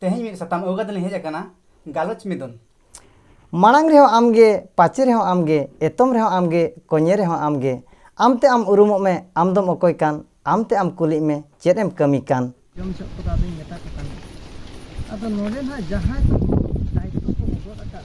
ᱛᱮᱦᱮᱧ ᱢᱤᱫ ᱥᱟᱛᱟᱢ ᱟᱹᱜᱩ ᱠᱟᱛᱮ ᱞᱤᱧ ᱦᱮᱡ ᱟᱠᱟᱱᱟ ᱜᱟᱞᱚᱪ ᱢᱤᱫᱩᱱ ᱢᱟᱲᱟᱝ ᱨᱮᱦᱚᱸ ᱟᱢᱜᱮ ᱯᱟᱪᱮ ᱨᱮᱦᱚᱸ ᱟᱢᱜᱮ ᱮᱛᱚᱢ ᱨᱮᱦᱚᱸ ᱟᱢᱜᱮ ᱠᱚᱧᱮ ᱨᱮᱦᱚᱸ ᱟᱢᱜᱮ ᱟᱢᱛᱮ ᱟᱢ ᱩᱨᱩᱢᱚᱜ ᱢᱮ ᱟᱢ ᱫᱚᱢ ᱚᱠᱚᱭ ᱠᱟᱱ ᱟᱢᱛᱮ ᱟᱢ ᱠᱩᱞᱤᱜ ᱢᱮ ᱪᱮᱫ ᱮᱢ ᱠᱟᱹᱢᱤ ᱠᱟᱱ ᱡᱚᱢ ᱦᱚᱪᱚᱜ ᱠᱚᱫᱚ ᱟᱫᱚᱧ ᱢᱮᱛᱟ ᱠᱚ ᱠᱟᱱᱟ ᱟᱫᱚ ᱱᱚᱰᱮ ᱱᱟᱦᱟᱜ ᱡᱟᱦᱟᱸᱭ ᱠᱚ ᱫᱟᱭᱤᱛᱛᱚ ᱠᱚ ᱜᱚᱫ ᱟᱠᱟᱫ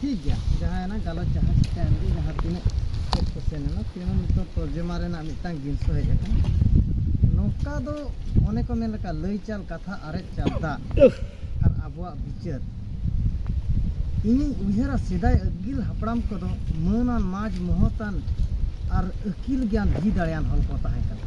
ᱴᱷᱤᱠ ᱜᱮᱭᱟ ᱡᱟᱦᱟᱸᱭᱮᱱᱟ ᱜᱟᱞᱚᱪ ᱡᱟᱦᱟᱸ ᱪᱤᱠᱟᱹᱭᱮᱱ ᱜᱮ ᱡᱟᱦᱟᱸ ᱛᱤᱱᱟᱹᱜ ᱪᱮᱫ ᱠᱚ ᱥᱮᱱ ᱮᱱᱟ ᱛᱤᱱᱟᱹᱜ ᱱᱤᱛᱚᱜ ᱛᱚᱨᱡᱚᱢᱟ ᱨᱮᱱᱟᱜ ᱢᱤᱫᱴᱟᱝ ᱡᱤᱱᱤᱥ ᱦᱮᱡ ᱟᱠᱟᱱᱟ ᱱᱚᱝᱠᱟ ᱫᱚ ᱚᱱᱮ ᱠᱚ ᱢᱮᱱ ᱞᱮᱠᱟ ᱞᱟᱹᱭ ᱪᱟᱞ ᱠᱟᱛᱷᱟ ᱟᱨᱮᱡ ᱪᱟᱞ ᱫᱟᱜ ᱟᱨ ᱟᱵᱚᱣᱟᱜ ᱵᱤᱪᱟᱹᱨ ᱤᱧᱤᱧ ᱩᱭᱦᱟᱹᱨᱟ ᱥᱮᱫᱟᱭ ᱟᱹᱜᱤᱞ ᱦᱟᱯᱲᱟᱢ ᱠᱚᱫᱚ ᱢᱟᱹᱱᱟᱱ ᱢᱟᱡᱽ ᱢᱚᱦᱚᱛᱟᱱ ᱟᱨ ᱟᱹᱠᱤᱞ ᱜᱮᱭᱟᱱ ᱫᱷᱤ ᱫᱟᱲᱮᱭᱟᱱ ᱦᱚᱲ ᱠᱚ ᱛᱟᱦᱮᱸ ᱠᱟᱱᱟ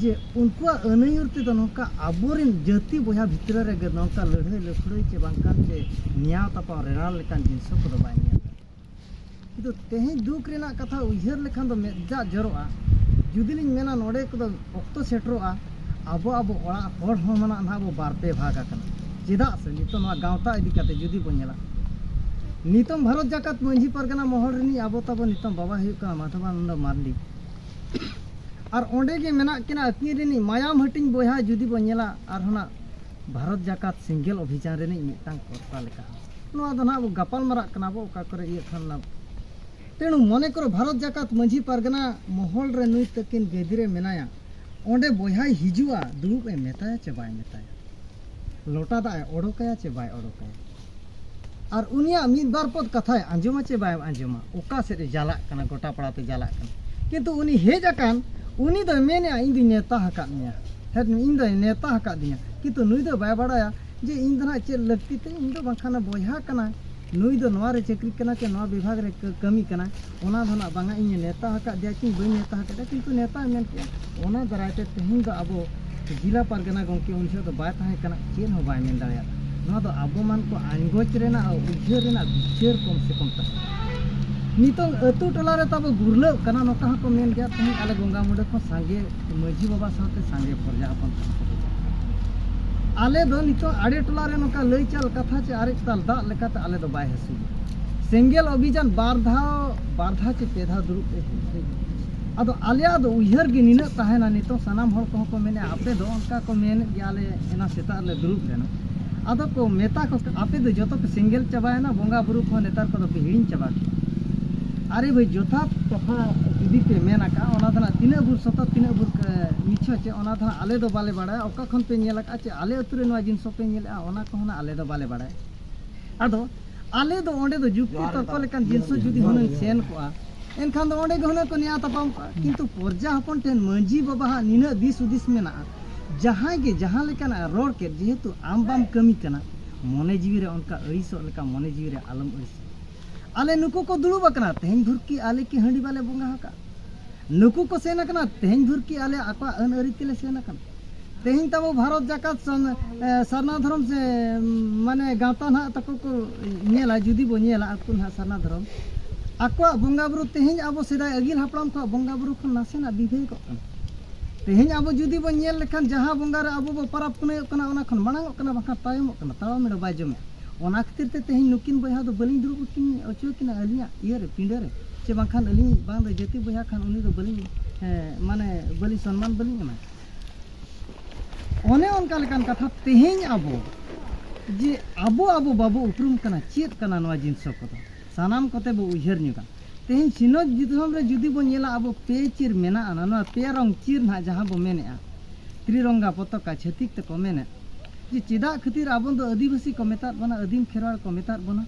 ᱡᱮ ᱩᱱᱠᱩᱣᱟᱜ ᱟᱹᱱᱟᱹᱭᱩᱨ ᱛᱮᱫᱚ ᱱᱚᱝᱠᱟ ᱟᱵᱚᱨᱮᱱ ᱡᱟᱹᱛᱤ ᱵᱚᱭᱦᱟ ᱵᱷᱤᱛᱨᱤ ᱨᱮᱜᱮ ᱱᱚᱝᱠᱟ ᱞᱟᱹᱲᱦᱟᱹᱭ ᱞᱟᱹᱯᱷᱲᱟᱹᱭ ᱪᱮ ᱵᱟᱝᱠᱷᱟᱱ ᱪᱮ ᱱᱮᱭᱟᱣ ᱛᱟᱯᱟᱢ ᱨᱮᱲᱟᱣ ᱞᱮᱠᱟᱱ ᱡᱤᱱᱤᱥ ᱠᱚᱫᱚ ᱵᱟᱭ ᱧᱮᱞ ᱠᱤᱱᱛᱩ ᱛᱮᱦᱮᱧ ᱫᱩᱠ ᱨᱮᱱᱟᱜ ᱠᱟᱛᱷᱟ ᱩᱭᱦᱟᱹᱨ ᱞᱮᱠᱷᱟᱱ ᱫᱚ ᱢᱮᱫ ᱫᱟᱜ ᱡᱚᱨᱚᱜᱼᱟ ᱡᱩᱫᱤ ᱞᱤᱧ ᱢᱮᱱᱟ ᱱᱚᱰᱮ ᱠᱚᱫᱚ ᱚᱠᱛᱚ ᱥᱮᱴᱮᱨᱚᱜᱼᱟ ᱟᱵᱚ ᱟᱵᱚ ᱚᱲᱟᱜ ᱦᱚᱲ ᱦᱚᱸ ᱢᱮᱱᱟᱜ ᱱᱟᱦᱟᱜ ᱟᱵᱚ ᱵᱟᱨ ᱯᱮ ᱵᱷᱟᱜᱽ ᱟᱠᱟᱱᱟ ᱪᱮᱫᱟᱜ ᱥᱮ ᱱᱤᱛᱚᱜ ᱱᱚᱣᱟ ᱜᱟᱶᱛᱟ ᱤᱫᱤ ᱠᱟᱛᱮ ᱡᱩᱫᱤ ᱵᱚᱱ ᱧᱮᱞᱟ ᱱᱤᱛᱚᱝ ᱵᱷᱟᱨᱚᱛ ᱡᱟᱠᱟᱛ ᱢᱟᱹᱡᱷᱤ ᱯᱟᱨᱜᱟᱱᱟ ᱢᱚᱦᱚᱞ ᱨᱤᱱᱤᱡ ᱟᱵᱚ ᱛᱟᱵᱚ ᱱᱤᱛᱚᱝ ᱵᱟᱵᱟ ᱦᱩᱭᱩᱜ ᱠᱟᱱᱟ ᱢᱟᱫᱷᱚᱵᱟᱱᱚᱱᱫᱚ ᱢᱟᱨᱰᱤ ᱟᱨ ᱚᱸᱰᱮ ᱜᱮ ᱢᱮᱱᱟᱜ ᱠᱤᱱᱟ ᱟᱹᱠᱤᱱ ᱨᱤᱱᱤᱡ ᱢᱟᱭᱟᱢ ᱦᱟᱹᱴᱤᱧ ᱵᱚᱭᱦᱟ ᱡᱩᱫᱤ ᱵᱚᱱ ᱧᱮᱞᱟ ᱟᱨ ᱦᱚᱱᱟᱜ ᱵᱷᱟᱨᱚᱛ ᱡᱟᱠᱟᱛ ᱥᱤᱝᱜᱮᱞ ᱚᱵᱷᱤᱡᱟᱱ ᱨᱤᱱᱤᱡ ᱢᱤᱫᱴᱟᱝ ᱠᱚᱨᱛᱟ ᱞᱮᱠᱟ ᱱᱚᱣᱟ ᱫᱚ ᱱᱟᱦᱟᱜ ᱵᱚ ᱜᱟᱯᱟᱞ ᱢᱟᱨᱟᱜ ᱠᱟᱱᱟ ᱵᱚ ᱚᱠᱟ ᱠᱚᱨᱮ ᱤᱭᱟᱹ ᱠᱷᱟᱱ ᱱᱟ ᱛᱮᱱᱩ ᱢᱚᱱᱮ ᱠᱚᱨᱚ ᱵᱷᱟᱨᱚᱛ ᱡᱟᱠᱟᱛ ᱢᱟᱹᱡᱷᱤ ᱯᱟᱨᱜᱟᱱᱟ ᱢᱚᱦᱚᱞ ᱨᱮ ᱱᱩᱭ ᱛᱟᱹᱠᱤᱱ ᱜᱟᱹᱫᱤ ᱨᱮ ᱢᱮᱱᱟᱭᱟ ᱚᱸᱰᱮ ᱵᱚᱭᱦᱟᱭ ᱦᱤᱡᱩᱜᱼᱟ ᱫᱩᱲᱩᱵ ᱮ ᱢᱮᱛᱟᱭᱟ ᱪᱮ ᱵᱟᱭ ᱢᱮᱛᱟᱭᱟ ᱞᱚᱴᱟ ᱫᱟᱜ ᱮ ᱚᱰᱚᱠᱟᱭᱟ ᱪᱮ ᱵᱟᱭ ᱚᱰᱚᱠᱟᱭᱟ ᱟᱨ ᱩᱱᱤᱭᱟᱜ ᱢᱤᱫ ᱵᱟᱨ ᱯᱚᱫ ᱠᱟᱛᱷᱟᱭ ᱟᱸᱡᱚᱢᱟ ᱪᱮ ᱵᱟᱭ ᱟᱸᱡᱚᱢᱟ ᱚᱠᱟ ᱥᱮᱫ ᱮ ᱪᱟᱞᱟᱜ ᱠᱟᱱᱟ ᱜᱚᱴᱟ ᱯᱟᱲᱟᱛᱮ ᱪᱟᱞᱟᱜ ᱠᱟᱱᱟ ᱠᱤᱱᱛᱩ ᱩᱱᱤ ᱦᱮᱡ ᱟᱠᱟᱱ ᱩᱱᱤ ᱫᱚᱭ ᱢᱮᱱᱮᱜᱼᱟ ᱤᱧ ᱫᱚᱧ ᱱᱮᱣᱛᱟ ᱟᱠᱟᱫ ᱢᱮᱭᱟ ᱦᱮᱸ ᱤᱧ ᱫᱚᱭ ᱱᱮᱣᱛᱟ ᱟᱠᱟᱫᱤᱧᱟ ᱠᱤᱱᱛᱩ ᱱᱩᱭ ᱫᱚ ᱵᱟᱭ ᱵᱟᱲᱟᱭᱟ ᱡᱮ ᱤᱧ ᱫᱚ ᱱᱟᱜ ᱪᱮᱫ ᱞᱟᱹᱠᱛᱤ ᱛᱤᱧ ᱤᱧ ᱫᱚ ᱵᱟᱝᱠᱷᱟᱱ ᱵᱚᱭᱦᱟ ᱠᱟᱱᱟ ᱱᱩᱭ ᱫᱚ ᱱᱚᱣᱟ ᱨᱮ ᱪᱟᱹᱠᱨᱤ ᱠᱟᱱᱟ ᱪᱮ ᱱᱚᱣᱟ ᱵᱤᱵᱷᱟᱜᱽ ᱨᱮ ᱠᱟᱹᱢᱤ ᱠᱟᱱᱟ ᱚᱱᱟ ᱫᱚ ᱱᱟᱜ ᱵᱟᱝᱟ ᱤᱧ ᱱᱮᱣᱛᱟ ᱟᱠᱟᱫᱮᱭᱟ ᱠᱤ ᱵᱟᱹᱧ ᱱᱮᱣᱛᱟ ᱟᱠᱟᱫᱮᱭᱟ ᱠᱤᱱᱛᱩ ᱱᱮᱣᱛᱟ ᱢᱮᱱ ᱠᱮᱫᱼᱟ ᱚᱱᱟ ᱫᱟᱨᱟᱭ ᱛᱮ ᱛᱮᱦᱮᱧ ᱫᱚ ᱟᱵᱚ ᱡᱮᱞᱟ ᱯᱟᱨᱜᱟᱱᱟ ᱜᱚᱢᱠᱮ ᱩᱱ ᱡᱚᱦᱚᱜ ᱫᱚ ᱵᱟᱭ ᱛᱟᱦᱮᱸ ᱠᱟᱱᱟ ᱪᱮᱫ ᱦᱚᱸ ᱵᱟᱭ ᱢᱮᱱ ᱫᱟᱲᱮᱭᱟᱜ ᱱᱚᱣᱟ ᱫᱚ ᱟᱵᱚ ᱢᱟᱱ ᱠᱚ ᱟᱸᱜᱚᱪ ᱨᱮᱱᱟᱜ ᱩᱭᱦᱟᱹᱨ ᱨᱮᱱᱟᱜ ᱵᱤᱪᱟᱹᱨ ᱠᱚᱢ ᱥᱮ ᱠᱚᱢ ᱛᱟᱦᱮᱸ ᱱᱤᱛᱚᱝ ᱟᱹᱛᱩ ᱴᱚᱞᱟ ᱨᱮ ᱛᱟᱵᱚ ᱜᱩᱨᱞᱟᱹᱜ ᱠᱟᱱᱟ ᱱᱚᱝᱠᱟ ᱦᱚᱸᱠᱚ ᱢᱮᱱ ᱜᱮᱭᱟ ᱛᱮᱦᱮᱧ ᱟᱞᱮ ᱜᱚᱝᱜᱟ ᱢᱩᱸᱰᱟᱹ ᱠᱷᱚᱱ ᱥᱟᱸᱜᱮ ᱢᱟᱹᱡᱷᱤ ᱵᱟᱵᱟ ᱥᱟᱶᱛᱮ ᱥᱟᱸᱜᱮ ᱯᱨᱚᱡᱟ ᱦᱚᱯᱚᱱ ᱟᱞᱮ ᱫᱚ ᱱᱤᱛᱚᱜ ᱟᱲᱮ ᱴᱚᱞᱟ ᱨᱮ ᱱᱚᱝᱠᱟ ᱞᱟᱹᱭ ᱪᱟᱞ ᱠᱟᱛᱷᱟ ᱪᱮ ᱟᱨᱮᱡ ᱛᱟᱞ ᱫᱟᱜ ᱞᱮᱠᱟᱛᱮ ᱟᱞᱮ ᱫᱚ ᱵᱟᱭ ᱦᱟᱹᱥᱩ ᱥᱮᱸᱜᱮᱞ ᱚᱵᱷᱤᱡᱟᱱ ᱵᱟᱨ ᱫᱷᱟᱣ ᱵᱟᱨ ᱫᱷᱟᱣ ᱪᱮ ᱯᱮ ᱫᱷᱟᱣ ᱫᱩᱲᱩᱵ ᱛᱮ ᱟᱫᱚ ᱟᱞᱮᱭᱟᱜ ᱫᱚ ᱩᱭᱦᱟᱹᱨ ᱜᱮ ᱱᱤᱱᱟᱹᱜ ᱛᱟᱦᱮᱱᱟ ᱱᱤᱛᱚᱜ ᱥᱟᱱᱟᱢ ᱦᱚᱲ ᱠᱚᱦᱚᱸ ᱠᱚ ᱢᱮᱱᱮᱫᱼᱟ ᱟᱯᱮ ᱫᱚ ᱚᱱᱠᱟ ᱠᱚ ᱢᱮᱱᱮᱫ ᱜᱮᱭᱟ ᱟᱞᱮ ᱮᱱᱟ ᱥᱮᱛᱟᱜ ᱨᱮᱞᱮ ᱫᱩᱲᱩᱵ ᱞᱮᱱᱟ ᱟᱫᱚ ᱠᱚ ᱢᱮᱛᱟ ᱠᱚ ᱟᱯᱮ ᱫᱚ ᱡᱚᱛᱚ ᱯᱮ ᱥᱮᱸᱜᱮᱞ ᱪᱟᱵᱟᱭᱮᱱᱟ ᱵᱚᱸᱜᱟ ᱵᱩᱨᱩ ᱠᱚᱦᱚᱸ ᱱᱮᱛᱟᱨ ᱠᱚᱫᱚ ᱯᱮ ᱦᱤᱲᱤᱧ ᱪᱟᱵᱟ ᱠᱮᱫᱟ ᱟᱨᱮ ᱵᱷᱟᱹᱭ ᱡᱚᱛᱷᱟᱛ ᱠᱟᱛᱷᱟ ᱡᱩᱫᱤ ᱯᱮ ᱢᱮᱱ ᱟᱠᱟᱫᱼᱟ ᱚᱱᱟ ᱫᱚ ᱱᱟᱜ ᱛᱤᱱᱟᱹᱜ ᱵᱷᱩᱨ ᱥᱚᱛᱚ ᱛᱤᱱᱟᱹᱜ ᱵᱷᱩᱨ ᱢᱤᱪᱷᱟᱹ ᱪᱮ ᱚᱱᱟ ᱫᱚ ᱱᱟᱜ ᱟᱞᱮ ᱫᱚ ᱵᱟᱞᱮ ᱵᱟᱲᱟᱭᱟ ᱚᱠᱟ ᱠᱷᱚᱱ ᱯᱮ ᱧᱮᱞ ᱟᱠᱟᱫᱼᱟ ᱪᱮ ᱟᱞᱮ ᱟᱹᱛᱩ ᱨᱮ ᱱᱚᱣᱟ ᱡᱤᱱᱤᱥ ᱦᱚᱸᱯᱮ ᱧᱮᱞᱮᱫᱼᱟ ᱚᱱᱟ ᱠᱚᱦᱚᱸ ᱱᱟᱜ ᱟᱞᱮ ᱫᱚ ᱵᱟᱞᱮ ᱵᱟᱲᱟᱭᱟ ᱟᱫᱚ ᱟᱞᱮ ᱫᱚ ᱚᱸᱰᱮ ᱫᱚ ᱡᱩᱠᱛᱤ ᱛᱚᱨᱠᱚ ᱞᱮᱠᱟᱱ ᱡᱤᱱᱤᱥ ᱡᱩᱫᱤ ᱦᱩᱱᱟᱹᱝ ᱥᱮᱱ ᱠᱚᱜᱼᱟ ᱮᱱᱠᱷᱟᱱ ᱫᱚ ᱚᱸᱰᱮ ᱜᱮ ᱦᱩᱱᱟᱹᱝ ᱠᱚ ᱱᱮᱭᱟ ᱛᱟᱯᱟᱢ ᱠᱚᱜᱼᱟ ᱠᱤᱱᱛᱩ ᱯᱚᱨᱡᱟ ᱦᱚᱯᱚᱱ ᱴᱷᱮᱱ ᱢᱟᱹᱡᱷᱤ ᱵᱟᱵᱟ ᱦᱟᱸᱜ ᱱᱤᱱᱟᱹᱜ ᱫᱤᱥ ᱦᱩᱫᱤᱥ ᱢᱮᱱᱟᱜᱼᱟ ᱡᱟᱦᱟᱸᱭ ᱜᱮ ᱡᱟᱦᱟᱸ ᱞᱮᱠᱟᱱᱟᱜ ᱨᱚᱲ ᱠᱮᱫ ᱡᱮᱦᱮᱛᱩ ᱟᱢ ᱵᱟᱢ ᱠᱟᱹᱢᱤ ᱠᱟᱱᱟ ᱢᱚᱱᱮ ᱡᱤᱣᱤ ᱨᱮ ᱚᱱᱠᱟ ᱟᱹᱲᱤᱥᱚᱜ ᱞᱮᱠᱟ ᱢᱚᱱᱮ ᱡᱤᱣᱤ ᱨᱮ ᱟᱞᱚᱢ ᱟᱹᱲᱤᱥᱚᱜ ᱟᱞᱮ ᱱᱩᱠᱩ ᱠᱚ ᱫᱩᱲᱩᱵ ᱟᱠᱟᱱᱟ ᱛᱮᱦᱮᱧ ᱵᱷᱩᱨᱠᱤ ᱟᱞᱮ ᱠᱤ ᱦᱟᱺᱰᱤ ᱵᱟᱞᱮ ᱵᱚᱸᱜᱟ ᱟᱠᱟᱫ ᱱᱩᱠᱩ ᱠᱚ ᱥᱮᱱ ᱟᱠᱟᱱᱟ ᱛᱮᱦᱮᱧ ᱵᱷᱩᱨ ᱠᱤ ᱟᱞᱮ ᱟᱠᱚᱣᱟᱜ ᱟᱹᱱ ᱟᱹᱨᱤ ᱛᱮᱞᱮ ᱥᱮᱱ ᱟᱠᱟᱱᱟ ᱛᱮᱦᱮᱧ ᱛᱟᱵᱚ ᱵᱷᱟᱨᱚᱛ ᱡᱟᱠᱟᱛ ᱥᱟᱨᱱᱟ ᱫᱷᱚᱨᱚᱢ ᱥᱮ ᱢᱟᱱᱮ ᱜᱟᱶᱛᱟ ᱱᱟᱜ ᱛᱟᱠᱚ ᱠᱚ ᱧᱮᱞᱟ ᱡᱩᱫᱤ ᱵᱚ ᱧᱮᱞᱟ ᱟᱠᱚ ᱱᱟᱜ ᱥᱟᱨᱱᱟ ᱫᱷᱚᱨᱚᱢ ᱟᱠᱚᱣᱟᱜ ᱵᱚᱸᱜᱟ ᱵᱩᱨᱩ ᱛᱮᱦᱮᱧ ᱟᱵᱚ ᱥᱮᱫᱟᱭ ᱟᱹᱜᱤᱞ ᱦᱟᱯᱲᱟᱢ ᱠᱚᱣᱟᱜ ᱵᱚᱸᱜᱟ ᱵᱩᱨᱩ ᱠᱷᱚᱱ ᱱᱟᱥᱮᱱᱟᱜ ᱵᱤᱵᱷᱮᱫᱚᱜ ᱠᱟᱱᱟ ᱛᱮᱦᱮᱧ ᱟᱵᱚ ᱡᱩᱫᱤ ᱵᱚ ᱧᱮᱞ ᱞᱮᱠᱷᱟᱱ ᱡᱟᱦᱟᱸ ᱵᱚᱸᱜᱟ ᱨᱮ ᱟᱵᱚ ᱵᱚ ᱯᱟᱨᱟᱵᱽ ᱯᱩᱱᱟᱹᱭᱚᱜ ᱠᱟᱱᱟ ᱚᱱᱟ ᱠᱷᱚᱱ ᱢᱟᱲᱟᱝᱚᱜ ᱠᱟᱱᱟ ᱵᱟᱠᱷᱟᱱ ᱛᱟᱭᱚᱢᱚᱜ ᱠᱟᱱᱟ ᱛᱟᱲᱟᱢᱮᱲ ᱵᱟᱭ ᱡᱚᱢᱮᱜᱼᱟ ᱚᱱᱟ ᱠᱷᱟᱹᱛᱤᱨ ᱛᱮ ᱛᱮᱦᱮᱧ ᱱᱩᱠᱤᱱ ᱵᱚᱭᱦᱟ ᱫᱚ ᱵᱟᱹᱞᱤᱧ ᱫᱩᱲᱩᱵ ᱠᱤᱱ ᱚᱪᱚ ᱠᱤᱱᱟ ᱟᱹᱞᱤᱧᱟᱜ ᱤᱭᱟᱹ ᱨᱮ ᱯᱤᱸᱰᱟᱹ ᱨᱮ ᱥᱮ ᱵᱟᱝᱠᱷᱟᱱ ᱟᱹᱞᱤᱧ ᱵᱟᱝ ᱫᱚ ᱡᱟᱹᱛᱤ ᱵᱚᱭᱦᱟ ᱠᱷᱟᱱ ᱩᱱᱤ ᱫᱚ ᱵᱟᱹᱞᱤᱧ ᱢᱟᱱᱮ ᱵᱟᱹᱞᱤᱧ ᱥᱚᱱᱢᱟᱱ ᱵᱟᱹᱞᱤᱧ ᱮᱢᱟ ᱚᱱᱮ ᱚᱱᱠᱟ ᱞᱮᱠᱟᱱ ᱠᱟᱛᱷᱟ ᱛᱮᱦᱮᱧ ᱟᱵᱚ ᱡᱮ ᱟᱵᱚ ᱟᱵᱚ ᱵᱟᱵᱚ ᱩᱯᱨᱩᱢ ᱠᱟᱱᱟ ᱪᱮᱫ ᱠᱟᱱᱟ ᱱᱚᱣᱟ ᱡᱤᱱᱤᱥ ᱠᱚᱫᱚ ᱥᱟᱱᱟᱢ ᱠᱚᱛᱮ ᱵᱚ ᱩᱭᱦᱟᱹᱨ ᱧᱚᱜᱟ ᱛᱮᱦᱮᱧ ᱥᱤᱧᱚᱛ ᱫᱤᱥᱚᱢ ᱨᱮ ᱡᱩᱫᱤ ᱵᱚ ᱧᱮᱞᱟ ᱟᱵᱚ ᱯᱮ ᱪᱤᱨ ᱢᱮᱱᱟᱜᱼᱟ ᱱᱚᱣᱟ ᱯᱮ ᱨᱚᱝ ᱪᱤᱨ ᱱᱟᱦᱟᱜ ᱡᱟᱦᱟᱸ ᱵᱚ ᱢᱮᱱᱮᱜᱼᱟ ᱛᱨᱤᱨᱚᱝᱜᱟ ᱯᱚᱛᱟᱠᱟ ᱪᱷᱟᱹᱛᱤᱠ ᱛᱮᱠᱚ ᱢᱮᱱᱮᱫ ᱡᱮ ᱪᱮᱫᱟᱜ ᱠᱷᱟᱹᱛᱤᱨ ᱟᱵᱚ ᱫᱚ ᱟᱹᱫᱤᱵᱟᱹᱥᱤ ᱠᱚ ᱢᱮᱛᱟᱫ ᱵᱚᱱᱟ ᱟᱹᱫᱤᱢ ᱠᱷᱮᱨᱣᱟᱲ ᱠᱚ ᱢᱮᱛᱟᱫ ᱵᱚᱱᱟ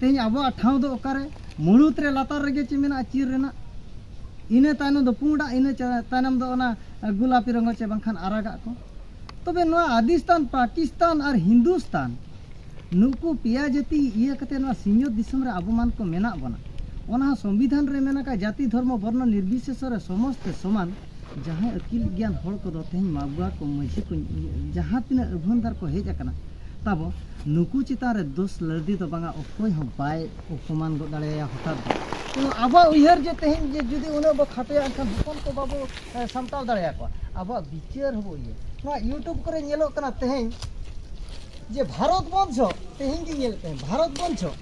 ᱛᱮᱦᱮᱧ ᱟᱵᱚᱣᱟᱜ ᱴᱷᱟᱶ ᱫᱚ ᱚᱠᱟᱨᱮ ᱢᱩᱬᱩᱛ ᱨᱮ ᱞᱟᱛᱟᱨ ᱨᱮᱜᱮ ᱪᱮᱫ ᱢᱮᱱᱟᱜᱼᱟ ᱪᱤᱨ ᱨᱮᱱᱟᱜ ᱤᱱᱟᱹ ᱛᱟᱭᱱᱚᱢ ᱫᱚ ᱯᱩᱸᱰᱟᱜ ᱤᱱᱟᱹ ᱛᱟᱭᱱᱚᱢ ᱫᱚ ᱚᱱᱟ ᱜᱩᱞᱟᱯᱤ ᱨᱚᱝᱜᱚ ᱪᱮ ᱵᱟᱝᱠᱷᱟᱱ ᱟᱨᱟᱜᱟᱜ ᱠᱚ ᱛᱚᱵᱮ ᱱᱚᱣᱟ ᱟᱫᱤᱥᱛᱟᱱ ᱯᱟᱠᱤᱥᱛᱟᱱ ᱟᱨ ᱦᱤᱱᱫᱩᱥᱛᱟᱱ ᱱᱩᱠᱩ ᱯᱮᱭᱟ ᱡᱟᱹᱛᱤ ᱤᱭᱟᱹ ᱠᱟᱛᱮ ᱱᱚᱣᱟ ᱥᱤᱧᱚᱛ ᱫᱤᱥᱚᱢ ᱨᱮ ᱟᱵᱚ ᱢᱟᱱ ᱠᱚ ᱢᱮᱱᱟᱜ ᱵᱚᱱᱟ ᱚᱱᱟ ᱦᱚᱸ ᱥᱚᱝᱵᱤᱫᱷᱟᱱ ᱨᱮ ᱢᱮᱱᱟᱜᱼᱟ ᱡᱟᱹᱛᱤ ᱫᱷᱚᱨᱢᱚ ᱵᱚᱨᱱᱚ ᱱᱤᱨᱵᱤᱥᱮᱥᱚ ᱨᱮ ᱥᱚᱢᱚᱥᱛᱮ ᱥᱚᱢᱟᱱ ᱡᱟᱦᱟᱸᱭ ᱟᱹᱠᱤᱞ ᱜᱮᱭᱟᱱ ᱦᱚᱲ ᱠᱚᱫᱚ ᱛᱮᱦᱮᱧ ᱢᱟᱜᱽᱣᱟ ᱠᱚ ᱢᱟᱹᱡᱷᱤ ᱠᱚ ᱡᱟᱦᱟᱸ ᱛᱤᱱᱟᱹᱜ ᱟᱹᱵᱷᱟᱹᱱᱫᱟᱨ ᱠᱚ ᱦᱮᱡ ᱟᱠᱟᱱᱟ ᱛᱟᱵᱚ ᱱᱩᱠᱩ ᱪᱮᱛᱟᱱ ᱨᱮ ᱫᱳᱥ ᱞᱟᱹᱲᱫᱤ ᱫᱚ ᱵᱟᱝᱟ ᱚᱠᱚᱭ ᱦᱚᱸ ᱵᱟᱭ ᱚᱯᱚᱢᱟᱱ ᱜᱚᱫ ᱫᱟᱲᱮᱭᱟᱭᱟ ᱦᱚᱴᱟᱛ ᱫᱚ ᱛᱮᱦᱮᱧ ᱟᱵᱚᱣᱟᱜ ᱩᱭᱦᱟᱹᱨ ᱡᱮ ᱛᱮᱦᱮᱧ ᱡᱮ ᱡᱩᱫᱤ ᱩᱱᱟᱹᱜ ᱵᱚ ᱠᱷᱟᱴᱚᱭᱟ ᱮᱱᱠᱷᱟᱱ ᱦᱚᱯᱚᱱ ᱠᱚ ᱵᱟᱵᱚ ᱥᱟᱢᱴᱟᱣ ᱫᱟᱲᱮᱭᱟᱠᱚᱣᱟ ᱟᱵᱚᱣᱟᱜ ᱵᱤᱪᱟᱹᱨ ᱦᱚᱸᱵᱚ ᱤᱭᱟᱹ ᱱᱚᱣᱟ ᱤᱭᱩᱴᱩᱵᱽ ᱠᱚᱨᱮ ᱧᱮᱞᱚᱜ ᱠᱟᱱᱟ ᱛᱮᱦᱮᱧ ᱡᱮ ᱵᱷᱟᱨᱚᱛ ᱵᱚᱨᱥᱚ ᱛᱮᱦᱮᱧ ᱜᱮ ᱧᱮᱞ ᱛᱮᱦᱮᱧ ᱵᱷᱟᱨᱚᱛ ᱵᱚᱨᱥᱚ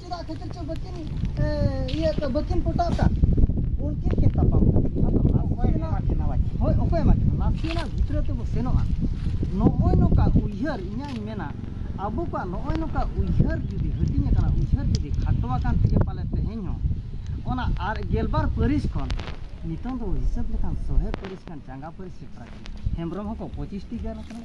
ᱪᱮᱫᱟᱜ ᱠᱷᱟᱹᱛᱤᱨ ᱪᱚ ᱵᱟᱹᱠᱤᱱ ᱤᱭᱟᱹ ᱵᱟᱹᱠᱤᱱ ᱯᱚᱴᱟᱣ ᱠᱟᱜ ᱩᱱᱠᱤᱱ ᱠᱤᱱ ᱛᱟᱯᱟᱢ ᱦᱳᱭ ᱚᱠᱚᱭ ᱮᱢᱟ ᱠᱤᱱᱟ ᱱᱟᱥᱮᱱᱟᱜ ᱵᱷᱤᱛᱨᱤ ᱛᱮᱵᱚ ᱥᱮᱱᱚᱜᱼᱟ ᱱᱚᱜᱼᱚᱭ ᱱᱚᱝᱠᱟ ᱩᱭᱦᱟᱹᱨ ᱤᱧᱟᱹᱧ ᱢᱮᱱᱟ ᱟᱵᱚ ᱠᱚᱣᱟᱜ ᱱᱚᱜᱼᱚᱭ ᱱᱚᱝᱠᱟ ᱩᱭᱦᱟᱹᱨ ᱡᱩᱫᱤ ᱦᱟᱹᱴᱤᱧ ᱟᱠᱟᱱᱟ ᱩᱭᱦᱟᱹᱨ ᱡᱩᱫᱤ ᱠᱷᱟᱴᱚ ᱟᱠᱟᱱ ᱛᱮᱜᱮ ᱯᱟᱞᱮ ᱛᱮᱦᱮᱧ ᱦᱚᱸ ᱚᱱᱟ ᱟᱨ ᱜᱮᱞᱵᱟᱨ ᱯᱟᱹᱨᱤᱥ ᱠᱷᱚᱱ ᱱᱤᱛᱚᱝ ᱫᱚ ᱦᱤᱥᱟᱹᱵ ᱞᱮᱠᱷᱟᱱ ᱥᱚᱦᱮ ᱯᱟᱹᱨᱤᱥ ᱠᱷᱟᱱ ᱪᱟᱸᱜᱟ ᱯᱟᱹᱨᱤᱥ ᱥᱮᱴᱮᱨ ᱟᱠᱟᱱᱟ ᱦᱮᱢᱵᱨᱚᱢ ᱦᱚᱸᱠᱚ ᱯᱚᱸᱪᱤᱥᱴᱤ ᱜᱟᱱ ᱟᱠᱟᱱᱟ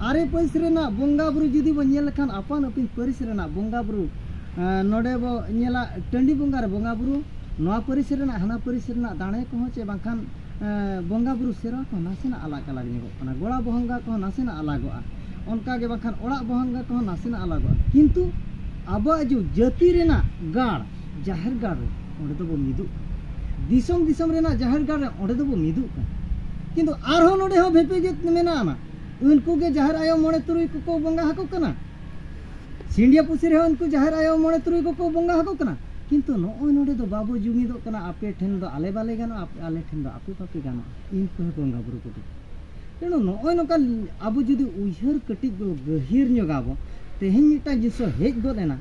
ᱟᱨᱮ ᱯᱟᱹᱨᱤᱥ ᱨᱮᱱᱟᱜ ᱵᱚᱸᱜᱟ ᱵᱩᱨᱩ ᱡᱩᱫᱤ ᱵᱚ ᱧᱮᱞ ᱞᱮᱠᱷᱟᱱ ᱟᱯᱟᱱ ᱟᱹᱯᱤᱱ ᱯᱟᱹᱨᱤᱥ ᱨᱮᱱᱟᱜ ᱵᱚᱸᱜᱟ ᱵᱩᱨᱩ ᱱᱚᱰᱮ ᱵᱚ ᱧᱮᱞᱟ ᱴᱟᱺᱰᱤ ᱵᱚᱸᱜᱟ ᱨᱮ ᱵᱚᱸᱜᱟ ᱵᱩᱨᱩ ᱱᱚᱣᱟ ᱯᱟᱹᱨᱤᱥ ᱨᱮᱱᱟᱜ ᱦᱟᱱᱟ ᱯᱟᱹᱨᱤᱥ ᱨᱮᱱᱟᱜ ᱫᱟᱲᱮ ᱠᱚᱦᱚᱸ ᱪᱮ ᱵᱟᱝᱠᱷᱟᱱ ᱵᱚᱸᱜᱟ ᱵᱩᱨᱩ ᱥᱮᱨᱣᱟ ᱠᱚ ᱱᱟᱥᱮᱱᱟᱜ ᱟᱞᱟᱜᱽ ᱟᱞᱟᱜᱽ ᱧᱚᱜᱚᱜ ᱠᱟᱱᱟ ᱜᱚᱲᱟ ᱵᱚᱸᱜᱟ ᱠᱚᱦᱚᱸ ᱱᱟᱥᱮᱱᱟᱜ ᱟᱞᱟᱜᱚᱜᱼᱟ ᱚᱱᱠᱟ ᱜᱮ ᱵᱟᱝᱠᱷᱟᱱ ᱚᱲᱟᱜ ᱵᱚᱸᱜᱟ ᱠᱚᱦᱚᱸ ᱱᱟᱥᱮᱱᱟᱜ ᱟᱞᱟᱜᱚᱜᱼᱟ ᱠᱤᱱᱛᱩ ᱟᱵᱚᱣᱟᱜ ᱡᱟᱹᱛᱤ ᱨᱮᱱᱟᱜ ᱜᱟᱲ ᱡᱟᱦᱮᱨ ᱜᱟᱲ ᱨᱮ ᱚᱸᱰᱮ ᱫᱚᱵᱚ ᱢᱤᱫᱩᱜ ᱠᱟᱱᱟ ᱫᱤᱥᱚᱢ ᱫᱤᱥᱚᱢ ᱨᱮᱱᱟᱜ ᱡᱟᱦᱮᱨ ᱜᱟᱲ ᱨᱮ ᱚᱸᱰᱮ ᱫᱚᱵᱚ ᱢᱤᱫᱩᱜ ᱠᱟᱱᱟ ᱠᱤᱱᱛᱩ ᱟᱨᱦᱚᱸ ᱱᱚᱰᱮ ᱦᱚᱸ ᱵᱷᱮᱯᱮᱜᱮᱫ ᱢᱮᱱᱟᱜᱼᱟ ᱩᱱᱠᱩ ᱜᱮ ᱡᱟᱦᱮᱨ ᱟᱭᱳ ᱢᱚᱬᱮ ᱛᱩᱨᱩᱭ ᱠᱚᱠᱚ ᱵᱚᱸᱜᱟ ᱟᱠᱚ ᱠᱟᱱᱟ ᱥᱤᱸᱰᱤᱭᱟ ᱯᱩᱥᱤ ᱨᱮᱦᱚᱸ ᱩᱱᱠᱩ ᱡᱟᱦᱮᱨ ᱟᱭᱳ ᱢᱚᱬᱮ ᱛᱩᱨᱩᱭ ᱠᱚᱠᱚ ᱵᱚᱸᱜᱟ ᱟᱠᱚ ᱠᱟᱱᱟ ᱠᱤᱱᱛᱩ ᱱᱚᱜᱼᱚᱭ ᱱᱚᱰᱮ ᱫᱚ ᱵᱟᱵᱚ ᱡᱩᱢᱤᱫᱚᱜ ᱠᱟᱱᱟ ᱟᱯᱮ ᱴᱷᱮᱱ ᱫᱚ ᱟᱞᱮ ᱵᱟᱞᱮ ᱜᱟᱱᱚᱜᱼᱟ ᱟᱞᱮ ᱴᱷᱮᱱ ᱫᱚ ᱟᱯᱮ ᱵᱟᱯᱮ ᱜᱟᱱᱚᱜᱼᱟ ᱤᱱᱠᱩ ᱦᱚᱸ ᱵᱚᱸᱜᱟ ᱵᱩᱨᱩ ᱠᱚᱫᱚ ᱛᱮᱱᱚ ᱱᱚᱜᱼᱚᱭ ᱱᱚᱝᱠᱟ ᱟᱵᱚ ᱡᱩᱫᱤ ᱩᱭᱦᱟᱹᱨ ᱠᱟᱹᱴᱤᱡ ᱵᱚ ᱜᱟᱹᱦᱤᱨ ᱧᱚᱜ ᱟᱵᱚ ᱛᱮᱦᱮᱧ ᱢᱤᱫᱴᱟᱝ ᱡᱤᱱᱤᱥ ᱦᱮᱡ ᱜᱚᱫ ᱮᱱᱟ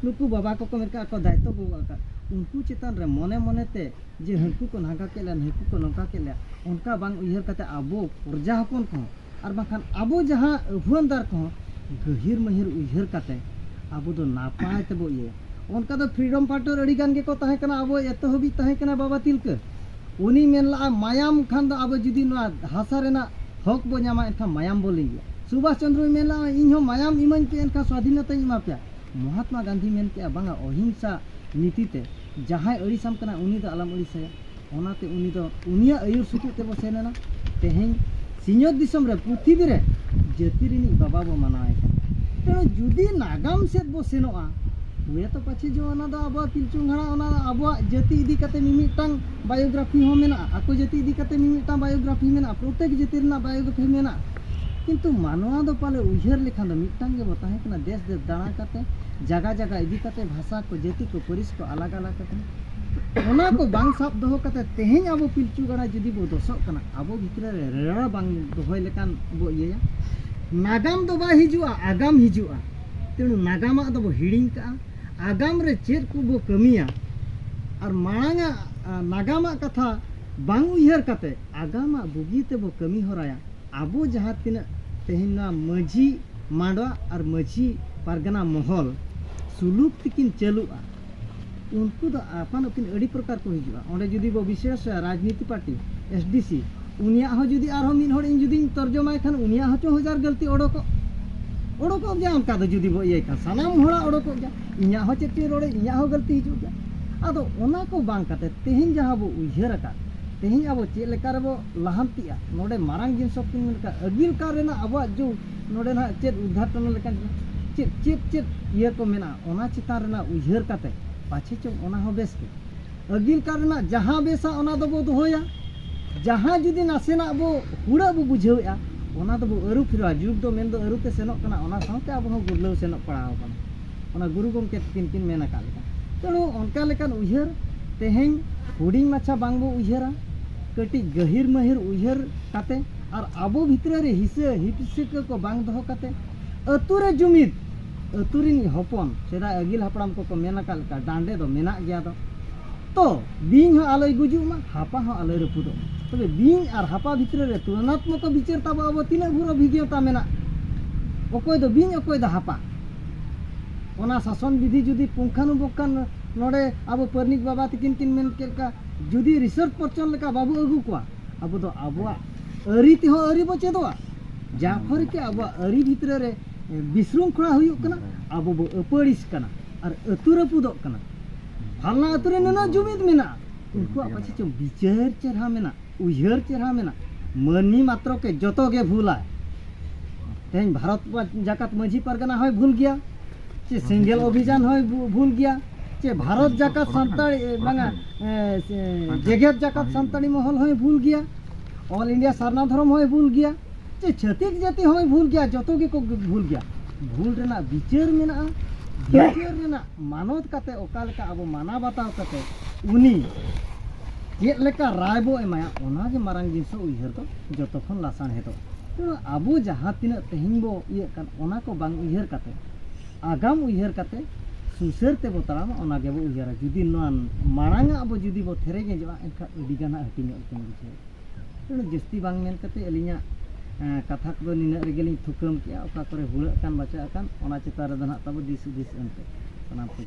ᱱᱩᱠᱩ ᱵᱟᱵᱟ ᱠᱚᱠᱚ ᱢᱮᱱ ᱠᱟᱜ ᱠᱚ ᱫᱟᱭᱤᱛᱛᱚ ᱠᱚ ᱜᱚᱜ ᱟᱠᱟᱫ ᱩᱱᱠᱩ ᱪᱮᱛᱟᱱ ᱨᱮ ᱢᱚᱱᱮ ᱢᱚᱱᱮ ᱛᱮ ᱡᱮ ᱦᱟᱹᱱᱠᱩ ᱠᱚ ᱱᱟᱝᱠᱟ ᱠᱮᱫ ᱞᱮᱭᱟ ᱱᱩᱠᱩ ᱠᱚ ᱱᱚᱝᱠᱟ ᱠᱮᱫ ᱞᱮᱭᱟ ᱚᱱᱠᱟ ᱵᱟᱝ ᱩᱭᱦᱟᱹᱨ ᱠᱟᱛᱮ ᱟᱵᱚ ᱯᱨᱚᱡᱟ ᱦᱚᱯᱚᱱ ᱠᱚᱦᱚᱸ ᱟᱨ ᱵᱟᱝᱠᱷᱟᱱ ᱟᱵᱚ ᱡᱟᱦᱟᱸ ᱟᱹᱦᱩᱣᱟᱹᱱᱫᱟᱨ ᱠᱚᱦᱚᱸ ᱜᱟᱹᱦᱤᱨ ᱢᱟᱹᱦᱤᱨ ᱩᱭᱦᱟᱹᱨ ᱠᱟᱛᱮ ᱟᱵᱚ ᱫᱚ ᱱᱟᱯᱟᱭ ᱛᱮᱵᱚ ᱤᱭᱟᱹᱭᱟ ᱚᱱᱠᱟ ᱫᱚ ᱯᱷᱨᱤᱰᱚᱢ ᱯᱷᱟᱭᱴᱟᱨ ᱟᱹᱰᱤ ᱜᱟᱱ ᱜᱮᱠᱚ ᱛᱟᱦᱮᱸ ᱠᱟᱱᱟ ᱟᱵᱚ ᱮᱛᱚᱦᱚᱵᱤᱡ ᱛᱟᱦᱮᱸ ᱠᱟᱱᱟ ᱵᱟᱵᱟ ᱛᱤᱞᱠᱟᱹ ᱩᱱᱤ ᱢᱮᱱ ᱞᱟᱜᱼᱟ ᱢᱟᱭᱟᱢ ᱠᱷᱟᱱ ᱫᱚ ᱟᱵᱚ ᱡᱩᱫᱤ ᱱᱚᱣᱟ ᱦᱟᱥᱟ ᱨᱮᱱᱟᱜ ᱦᱚᱠ ᱵᱚ ᱧᱟᱢᱟ ᱮᱱᱠᱷᱟᱱ ᱢᱟᱭᱟᱢ ᱵᱚ ᱞᱤᱸᱜᱤᱭᱟ ᱥᱩᱵᱷᱟᱥ ᱪᱚᱱᱫᱨᱚᱭ ᱢᱮᱱ ᱞᱟᱜᱼᱟ ᱤᱧ ᱦᱚᱸ ᱢᱟᱭᱟᱢ ᱤᱢᱟᱹᱧ ᱯᱮ ᱮᱱᱠᱷᱟᱱ ᱥᱣᱟᱫᱷᱤᱱᱚᱛᱟᱧ ᱮᱢᱟ ᱯᱮᱭᱟ ᱢᱚᱦᱟᱛᱢᱟ ᱜᱟᱱᱫᱷᱤ ᱢᱮᱱ ᱠᱮᱜᱼᱟ ᱵᱟᱝᱟ ᱚᱦᱤᱝᱥᱟ ᱱᱤᱛᱤ ᱛᱮ ᱡᱟᱦᱟᱸᱭ ᱟᱹᱲᱤᱥᱟᱢ ᱠᱟᱱᱟ ᱩᱱᱤ ᱫᱚ ᱟᱞᱚᱢ ᱟᱹᱲᱤᱥᱟᱭᱟ ᱚᱱᱟᱛᱮ ᱩᱱᱤ ᱫᱚ ᱩᱱᱤᱭᱟᱜ ᱟᱹᱭᱩᱨ ᱥᱩᱛᱩᱜ ᱛᱮᱵᱚ ᱥᱮᱱ ᱮᱱᱟ ᱛᱮᱦᱮᱧ ᱥᱤᱧᱚᱛ ᱫᱤᱥᱚᱢ ᱨᱮ ᱯᱨᱤᱛᱷᱤᱵᱤ ᱨᱮ ᱡᱟᱹᱛᱤ ᱨᱤᱱᱤᱡ ᱵᱟᱵᱟ ᱵᱚ ᱢᱟᱱᱟᱣᱮ ᱠᱟᱱᱟ ᱛᱮᱱᱚ ᱡᱩᱫᱤ ᱱᱟᱜᱟᱢ ᱥᱮᱫ ᱵᱚ ᱥᱮᱱᱚᱜᱼᱟ ᱦᱩᱭ ᱛᱚ ᱯᱟᱪᱷᱮ ᱡᱚ ᱚᱱᱟ ᱫᱚ ᱟᱵᱚ ᱯᱤᱞᱪᱩ ᱦᱟᱲᱟ ᱚᱱᱟ ᱟᱵᱚ ᱡᱟᱹᱛᱤ ᱤᱫᱤ ᱠᱟᱛᱮ ᱢᱤᱢᱤᱫᱴᱟᱝ ᱵᱟᱭᱳᱜᱨᱟᱯᱷᱤ ᱦᱚᱸ ᱢᱮᱱᱟᱜᱼᱟ ᱟᱠᱚ ᱡᱟᱹᱛᱤ ᱤᱫᱤ ᱠᱟᱛᱮ ᱢᱤᱢᱤᱫᱴᱟᱝ ᱵᱟᱭᱳᱜᱨᱟᱯᱷᱤ ᱢᱮᱱᱟᱜᱼᱟ ᱯᱨᱚᱛᱮᱠ ᱡᱟᱹᱛᱤ ᱨᱮᱱᱟᱜ ᱵᱟᱭᱳᱜᱨᱟᱯᱷᱤ ᱢᱮᱱᱟᱜᱼᱟ ᱠᱤᱱᱛᱩ ᱢᱟᱱᱣᱟ ᱫᱚ ᱯᱟᱞᱮ ᱩᱭᱦᱟᱹᱨ ᱞᱮᱠᱷᱟᱱ ᱫᱚ ᱢᱤᱫᱴᱟᱝ ᱜᱮ ᱵᱚ ᱛᱟᱦᱮᱸ ᱠᱟᱱᱟ ᱫᱮᱥ ᱫᱮᱥ ᱫᱟᱬᱟ ᱠᱟᱛᱮ ᱡᱟᱭᱜᱟ ᱡᱟᱭᱜᱟ ᱤᱫᱤ ᱠᱟᱛᱮ ᱵᱷᱟᱥᱟ ᱠᱚ ᱡᱟᱹᱛᱤ ᱠᱚ ᱯᱟᱹᱨᱤᱥ ᱠᱚ ᱟᱞᱟᱜᱽ ᱟᱞᱟᱜᱽ ᱟᱠᱟᱱᱟ ᱚᱱᱟ ᱠᱚ ᱵᱟᱝ ᱥᱟᱵ ᱫᱚᱦᱚ ᱠᱟᱛᱮ ᱛᱮᱦᱮᱧ ᱟᱵᱚ ᱯᱤᱞᱪᱩ ᱜᱟᱲᱟ ᱡᱩᱫᱤ ᱵᱚ ᱫᱚᱥᱚᱜ ᱠᱟᱱᱟ ᱟᱵᱚ ᱵᱷᱤᱛᱨᱤ ᱨᱮ ᱨᱮᱲᱟ ᱵᱟᱝ ᱫᱚᱦᱚᱭ ᱞᱮᱠᱟᱱ ᱵᱚ ᱤᱭᱟᱹᱭᱟ ᱱᱟᱜᱟᱢ ᱫᱚ ᱵᱟᱭ ᱦᱤᱡᱩᱜᱼᱟ ᱟᱜᱟᱢ ᱦᱤᱡᱩᱜᱼᱟ ᱛᱮᱬᱩ ᱱᱟᱜᱟᱢᱟᱜ ᱫᱚ ᱵᱚ ᱦᱤᱲᱤᱧ ᱠᱟᱜᱼᱟ ᱟᱜᱟᱢ ᱨᱮ ᱪᱮᱫ ᱠᱚ ᱵᱚ ᱠᱟᱹᱢᱤᱭᱟ ᱟᱨ ᱢᱟᱲᱟᱝᱟᱜ ᱱᱟᱜᱟᱢᱟᱜ ᱠᱟᱛᱷᱟ ᱵᱟᱝ ᱩᱭᱦᱟᱹᱨ ᱠᱟᱛᱮ ᱟᱜᱟᱢᱟᱜ ᱵᱩᱜᱤ ᱛᱮᱵᱚ ᱠᱟᱹᱢᱤ ᱦᱚᱨᱟᱭᱟ ᱟᱵᱚ ᱡᱟᱦᱟᱸ ᱛᱤᱱᱟᱹᱜ ᱛᱮᱦᱮᱧ ᱱᱚᱣᱟ ᱢᱟᱹᱡᱷᱤ ᱢᱟᱰᱣᱟ ᱟᱨ ᱢᱟᱹᱡᱷᱤ ᱯᱟᱨᱜᱟᱱᱟ ᱢᱚᱦᱚᱞ ᱥᱩᱞᱩᱠ ᱛᱮᱠᱤᱱ ᱪᱟᱹᱞᱩᱜᱼᱟ ᱩᱱᱠᱩ ᱫᱚ ᱟᱯᱟᱱ ᱟᱹᱯᱤᱱ ᱟᱹᱰᱤ ᱯᱨᱚᱠᱟᱨ ᱠᱚ ᱦᱤᱡᱩᱜᱼᱟ ᱚᱸᱰᱮ ᱡᱩᱫᱤ ᱵᱚ ᱵᱤᱥᱮᱥ ᱨᱟᱡᱽᱱᱤᱛᱤ ᱯᱟᱨᱴᱤ ᱮᱥ ᱰᱤ ᱥᱤ ᱩᱱᱤᱭᱟᱜ ᱦᱚᱸ ᱡᱩᱫᱤ ᱟᱨᱦᱚᱸ ᱢᱤᱫ ᱦᱚᱲ ᱤᱧ ᱡᱩᱫᱤᱧ ᱛᱚᱨᱡᱚᱢᱟᱭ ᱠᱷᱟᱱ ᱩᱱᱤᱭᱟᱜ ᱦᱚᱸ ᱪᱚ ᱦᱟᱡᱟᱨ ᱜᱟᱹᱞᱛᱤ ᱚᱰᱚᱠᱚᱜ ᱚᱰᱚᱠᱚᱜ ᱜᱮᱭᱟ ᱚᱱᱠᱟ ᱫᱚ ᱡᱩᱫᱤ ᱵᱚ ᱤᱭᱟᱹᱭ ᱠᱷᱟᱱ ᱥᱟᱱᱟᱢ ᱦᱚᱲᱟᱜ ᱚᱰᱚᱠᱚᱜ ᱜᱮᱭᱟ ᱤᱧᱟᱹᱜ ᱦᱚᱸ ᱪᱮᱫ ᱪᱚᱧ ᱨᱚᱲᱮ ᱤᱧᱟᱹᱜ ᱦᱚᱸ ᱜᱟᱹᱞᱛᱤ ᱦᱤᱡᱩᱜ ᱜᱮᱭᱟ ᱟᱫᱚ ᱚᱱᱟ ᱠᱚ ᱵᱟᱝ ᱠᱟᱛᱮ ᱛᱮᱦᱮᱧ ᱡᱟᱦᱟᱸ ᱵᱚ ᱩᱭᱦᱟᱹᱨ ᱟᱠᱟᱫ ᱛᱮᱦᱮᱧ ᱟᱵᱚ ᱪᱮᱫ ᱞᱮᱠᱟ ᱨᱮᱵᱚ ᱞᱟᱦᱟᱱᱛᱤᱜᱼᱟ ᱱᱚᱰᱮ ᱢᱟᱨᱟᱝ ᱡᱤᱱᱤᱥ ᱠᱤᱱ ᱢᱮᱱ ᱠᱟᱜ ᱟᱹᱜᱤᱞ ᱠᱟᱞ ᱨᱮᱱᱟᱜ ᱟᱵᱚᱣᱟᱜ ᱡᱩᱜᱽ ᱱᱚᱰᱮ ᱱᱟᱦᱟᱜ ᱪᱮᱫ ᱩᱫᱽᱜᱷᱟᱴᱚᱱ ᱞᱮᱠᱟᱱ ᱪᱮᱫ ᱪᱮᱫ ᱪᱮᱫ ᱤᱭᱟᱹ ᱠᱚ ᱢᱮᱱᱟᱜᱼᱟ ᱚᱱᱟ ᱪᱮᱛᱟᱱ ᱨᱮᱱᱟᱜ ᱩᱭᱦᱟᱹᱨ ᱠᱟᱛᱮ ᱯᱟᱪᱷᱮ ᱪᱚᱝ ᱚᱱᱟ ᱦᱚᱸ ᱵᱮᱥ ᱜᱮ ᱟᱹᱜᱤᱞ ᱠᱟᱞ ᱨᱮᱱᱟᱜ ᱡᱟᱦᱟᱸ ᱵᱮᱥᱟ ᱚᱱᱟ ᱫᱚᱵᱚ ᱫᱚᱦᱚᱭᱟ ᱡᱟᱦᱟᱸ ᱡᱩᱫᱤ ᱱᱟᱥᱮᱱᱟᱜ ᱵᱚ ᱦᱩᱲᱟᱹᱜ ᱵᱚ ᱵᱩᱡᱷᱟᱹᱣᱮᱜᱼᱟ ᱚᱱᱟ ᱫᱚᱵᱚ ᱟᱹᱨᱩ ᱯᱷᱮᱨᱟᱣᱟ ᱡᱩᱜᱽ ᱫᱚ ᱢᱮᱱ ᱫᱚ ᱟᱹᱨᱩ ᱛᱮ ᱥᱮᱱᱚᱜ ᱠᱟᱱᱟ ᱚᱱᱟ ᱥᱟᱶᱛᱮ ᱟᱵᱚ ᱦᱚᱸ ᱜᱩᱨᱞᱟᱹᱣ ᱥᱮᱱᱚᱜ ᱯᱟᱲᱟᱣ ᱟᱠᱟᱱᱟ ᱚᱱᱟ ᱜᱩᱨᱩ ᱜᱚᱢᱠᱮ ᱛᱤᱠᱤᱱ ᱠᱤᱱ ᱢᱮᱱ ᱟᱠᱟᱫ ᱞᱮᱠᱟ ᱛᱮᱬᱩ ᱚᱱᱠᱟ ᱞᱮᱠᱟᱱ ᱩᱭᱦᱟᱹᱨ ᱛᱮᱦᱮᱧ ᱦᱩᱰᱤᱧ ᱢᱟᱪᱷᱟ ᱵᱟᱝ ᱵᱚ ᱩᱭᱦᱟᱹᱨᱟ ᱠᱟᱹᱴᱤᱡ ᱜᱟᱹᱦᱤᱨ ᱢᱟᱹᱦᱤᱨ ᱩᱭᱦᱟᱹᱨ ᱠᱟᱛᱮ ᱟᱨ ᱟᱵᱚ ᱵᱷᱤᱛᱨᱤ ᱨᱮ ᱦᱤᱥᱟᱹ ᱦᱤᱯᱤᱥᱟᱹ ᱠᱚ ᱵᱟᱝ ᱫᱚᱦᱚ ᱠᱟᱛᱮ ᱟᱹᱛᱩ ᱨᱮ ᱡᱩᱢᱤᱫ ᱟᱹᱛᱩ ᱨᱤᱱ ᱦᱚᱯᱚᱱ ᱥᱮᱫᱟᱭ ᱟᱹᱜᱤᱞ ᱦᱟᱯᱲᱟᱢ ᱠᱚᱠᱚ ᱢᱮᱱ ᱟᱠᱟᱫ ᱞᱮᱠᱟ ᱰᱟᱸᱰᱮ ᱫᱚ ᱢᱮᱱᱟᱜ ᱜᱮᱭᱟ ᱫᱚ ᱛᱚ ᱵᱤᱧ ᱦᱚᱸ ᱟᱞᱚᱭ ᱜᱩᱡᱩᱜ ᱢᱟ ᱦᱟᱯᱟ ᱦᱚᱸ ᱟᱞᱚᱭ ᱨᱟᱹᱯᱩᱫᱚᱜ ᱢᱟ ᱛᱚᱵᱮ ᱵᱤᱧ ᱟᱨ ᱦᱟᱯᱟ ᱵᱷᱤᱛᱨᱤ ᱨᱮ ᱛᱩᱞᱚᱱᱟᱛᱢᱚᱠ ᱵᱤᱪᱟᱹᱨ ᱛᱟᱵᱚ ᱟᱵᱚ ᱛᱤᱱᱟᱹᱜ ᱵᱷᱩᱨ ᱚᱵᱷᱤᱜᱽᱱᱚᱛᱟ ᱢᱮᱱᱟᱜ ᱚᱠᱚᱭ ᱫᱚ ᱵᱤᱧ ᱚᱠᱚᱭ ᱫᱚ ᱦᱟᱯᱟ ᱚᱱᱟ ᱥᱟᱥᱚᱱ ᱵᱤᱫᱷᱤ ᱡᱩᱫᱤ ᱯᱩᱝᱠᱷᱟᱱᱩᱯᱩᱝᱠᱷᱟᱱ ᱱᱚᱰᱮ ᱟᱵᱚ ᱯᱟᱨᱱᱤᱠ ᱵᱟᱵᱟ ᱛᱤᱠᱤᱱ ᱠᱤᱱ ᱢᱮᱱ ᱠᱮᱫ ᱞᱮᱠᱟ ᱡᱩᱫᱤ ᱨᱤᱥᱟᱨᱪ ᱯᱚᱨᱪᱚᱱ ᱞᱮᱠᱟ ᱵᱟᱵᱚ ᱟᱹᱜᱩ ᱠᱚᱣᱟ ᱟᱵᱚ ᱫᱚ ᱟᱵᱚᱣᱟᱜ ᱟᱹᱨᱤ ᱛᱮᱦᱚᱸ ᱟᱹᱨᱤ ᱵᱚ ᱪᱮᱫᱚᱜᱼᱟ ᱡᱟᱦᱟᱸ ᱠᱷᱚᱱ ᱜᱮ ᱟᱵᱚᱣᱟᱜ ᱟᱹᱨᱤ ᱵᱷᱤᱛᱨᱤ ᱨᱮ ᱵᱤᱥᱨᱩᱝᱠᱷᱚᱲᱟ ᱦᱩᱭᱩᱜ ᱠᱟᱱᱟ ᱟᱵᱚ ᱵᱚ ᱟᱹᱯᱟᱹᱲᱤᱥ ᱠᱟᱱᱟ ᱟᱨ ᱟᱹᱛᱩ ᱨᱟᱹᱯᱩᱫᱚᱜ ᱠᱟᱱᱟ ᱵᱷᱟᱞᱱᱟ ᱟᱹᱛᱩ ᱨᱮ ᱱᱩᱱᱟᱹᱜ ᱡᱩᱢᱤᱫ ᱢᱮᱱᱟᱜᱼᱟ ᱩᱱᱠᱩᱣᱟᱜ ᱯᱟᱪᱷᱮ ᱪᱚᱝ ᱵᱤᱪᱟᱹᱨ ᱪᱮᱦᱨᱟ ᱢᱮᱱᱟᱜ ᱩᱭᱦᱟᱹᱨ ᱪᱮᱦᱨᱟ ᱢᱮᱱᱟᱜ ᱢᱟᱹᱱᱢᱤ ᱢᱟᱛᱨᱚ ᱠᱮ ᱡᱚᱛᱚ ᱜᱮ ᱵᱷᱩᱞᱟ ᱛᱮᱦᱮᱧ ᱵᱷᱟᱨᱚᱛ ᱡᱟᱠᱟᱛ ᱢᱟᱹᱡᱷᱤ ᱯᱟᱨᱜᱟᱱᱟ ᱦᱚᱸᱭ ᱵᱷᱩᱞ ᱜᱮᱭᱟ ᱪᱮ ᱥᱮᱸᱜᱮᱞ ᱚᱵᱷᱤᱡᱟᱱ ᱦᱚᱸᱭ ᱵᱷᱩᱞ ᱜᱮᱭᱟ ᱪᱮ ᱵᱷᱟᱨᱚᱛ ᱡᱟᱠᱟᱛ ᱥᱟᱱᱛᱟᱲ ᱵᱟᱝᱟ ᱡᱮᱜᱮᱛ ᱡᱟᱠᱟᱛ ᱥᱟᱱᱛᱟᱲᱤ ᱢᱚᱦᱚᱞ ᱦᱚᱸᱭ ᱵᱷᱩᱞ ᱜᱮᱭᱟ ᱚᱞ ᱤᱱᱰᱤᱭᱟ ᱥᱟᱨᱱᱟ ᱫᱷᱚᱨᱚᱢ ᱦᱚᱸᱭ ᱵᱷᱩᱞ ᱜᱮᱭᱟ ᱡᱮ ᱪᱷᱟᱹᱛᱤᱠ ᱡᱟᱹᱛᱤ ᱦᱚᱸᱭ ᱵᱷᱩᱞ ᱜᱮᱭᱟ ᱡᱚᱛᱚ ᱜᱮᱠᱚ ᱵᱷᱩᱞ ᱜᱮᱭᱟ ᱵᱷᱩᱞ ᱨᱮᱱᱟᱜ ᱵᱤᱪᱟᱹᱨ ᱢᱮᱱᱟᱜᱼᱟ ᱵᱤᱪᱟᱹᱨ ᱨᱮᱱᱟᱜ ᱢᱟᱱᱚᱛ ᱠᱟᱛᱮ ᱚᱠᱟ ᱞᱮᱠᱟ ᱟᱵᱚ ᱢᱟᱱᱟᱣ ᱵᱟᱛᱟᱣ ᱠᱟᱛᱮ ᱩᱱᱤ ᱪᱮᱫ ᱞᱮᱠᱟ ᱨᱟᱭ ᱵᱚ ᱮᱢᱟᱭᱟ ᱚᱱᱟᱜᱮ ᱢᱟᱨᱟᱝ ᱡᱤᱱᱤᱥ ᱩᱭᱦᱟᱹᱨ ᱫᱚ ᱡᱚᱛᱚ ᱠᱷᱚᱱ ᱞᱟᱥᱟᱬᱦᱮᱫᱚᱜᱼᱟ ᱛᱮᱢᱚᱱ ᱟᱵᱚ ᱡᱟᱦᱟᱸ ᱛᱤᱱᱟᱹᱜ ᱛᱮᱦᱮᱧ ᱵᱚ ᱤᱭᱟᱹᱜ ᱠᱟᱱ ᱚᱱᱟ ᱠᱚ ᱵᱟᱝ ᱩᱭᱦᱟᱹᱨ ᱠᱟᱛᱮ ᱟᱜᱟᱢ ᱩᱭᱦᱟᱹᱨ ᱠᱟᱛᱮ ᱥᱩᱥᱟᱹᱨ ᱛᱮᱵᱚ ᱛᱟᱲᱟᱢᱟ ᱚᱱᱟ ᱜᱮᱵᱚ ᱩᱭᱦᱟᱹᱨᱟ ᱡᱩᱫᱤ ᱱᱚᱣᱟ ᱢᱟᱲᱟᱝ ᱟᱜ ᱵᱚ ᱡᱩᱫᱤ ᱵᱚ ᱛᱷᱮᱨᱮ ᱜᱮᱡᱚᱜᱼᱟ ᱮᱱᱠᱷᱟᱱ ᱟᱹᱰᱤ ᱜᱟᱱ ᱦᱟᱹᱴᱤᱧᱚᱜ ᱞᱮᱠᱟᱧ ᱵᱩᱡᱷᱟᱹᱣᱟ ᱡᱟᱹᱥᱛᱤ ᱵᱟᱝ ᱢᱮᱱ ᱠᱟᱛᱮ ᱟᱹᱞᱤᱧᱟᱜ ᱠᱟᱛᱷᱟ ᱠᱚᱫᱚ ᱱᱤᱱᱟᱹᱜ ᱨᱮᱜᱮ ᱞᱤᱧ ᱛᱷᱩᱠᱟᱹᱢ ᱠᱮᱜᱼᱟ ᱚᱠᱟ ᱠᱚᱨᱮ ᱦᱩᱲᱟᱹᱜ ᱠᱟᱱ ᱵᱟᱪᱟᱜ ᱠᱟᱱ ᱚᱱᱟ ᱪᱮᱛᱟᱱ ᱨᱮᱫᱚ ᱱᱟᱦᱟᱜ ᱛᱟᱵᱚ ᱫᱤᱥ ᱦᱩᱫᱤᱥ ᱮᱢ ᱯᱮ ᱥᱟᱱᱟᱢ ᱠᱚᱜᱮ